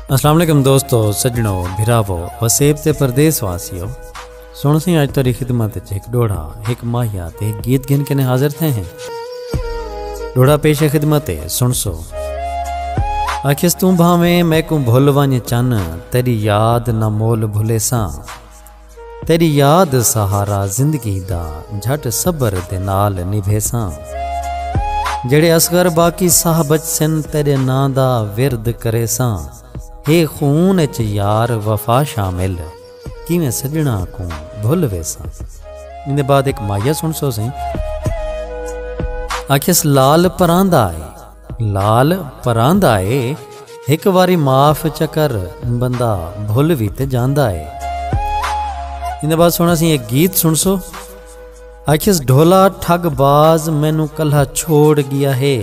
السلام علیکم دوستو سجنو بھراو وسیب تے پردیس واسیو سن سی اج تری خدمت وچ ایک ڈوڑا ایک ماہیا تے ایک گیت گھن کنے حاضر تھے ہیں ڈوڑا پیش خدمت ہے سن سو اکھس توں بھاویں میں کو بھول ونج چن تیری یاد نہ مول بھلے ساں تیڈی یاد سہارا زندگی دا جھٹ صبر دے نال نبھیساں جیڑھے اصغر باقی ساہ بچسن تیڈے ناں دا ورد کریساں ہے خون اچ یار وفا شامل کیویں سجناں کوں بھل ویساں اندے بعد ایک مایا سن سو سیں آکھیس لال پراندا ہے لال پراندا اے ہک واری معاف چکر بندہ بھل وی تے جاندا اے ایندے بعد سونا سی ایک گیت سن سو آکھیس ڈھولا ٹھگ باز مینو کلہ چھوڑ گیا ہے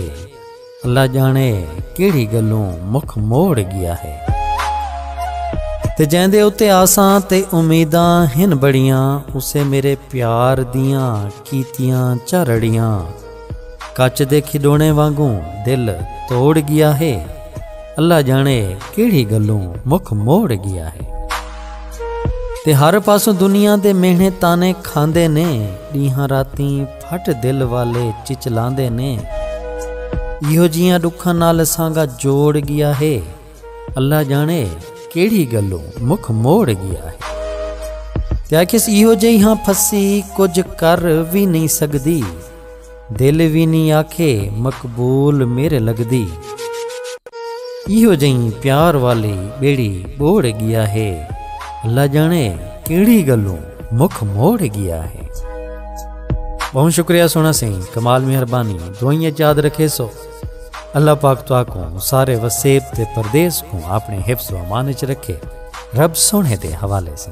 اللہ جانے کیڑی گلوں مکھ موڑ گیا ہے تے جین دے اتے آساں تے امیداں ہن بڑیاں اسے میرے پیار دیاں کیتیاں چرڑیاں کچ دے کھڈونے وانگوں دل توڑ گیا ہے اللہ جانے کیڑھی گلوں مکھ موڑ گیا ہے تے ہر پاسوں دنیا دے مہنے تانے کھاندے نے ڈیہاں راتیں پھٹ دل والے چچلاندے نے ایہو جیاں ڈکھاں نال سانگا جوڑ گیا ہے اللہ جانے کیڑھی گلوں مکھ موڑ گیا ہے تے آکھیس ایہو جئی ہاں پھسی کجھ کر وی نئیں سگدی دل وی نئیں آکھے مقبول میرے لگدی ایہو جئی پیار والی بیڑی بوڑ گیا ہے اللہ جانے کیڑھی گلوں مکھ موڑ گیا ہے بہت شکریہ سونا سیں کمال مہربانی دوئیں یاد رکھے سو اللہ پاک تو آکوں سارے وسیب تے پردیس کوں اپنے حفظ و امان اچ رکھے رب سونے دے حوالے سے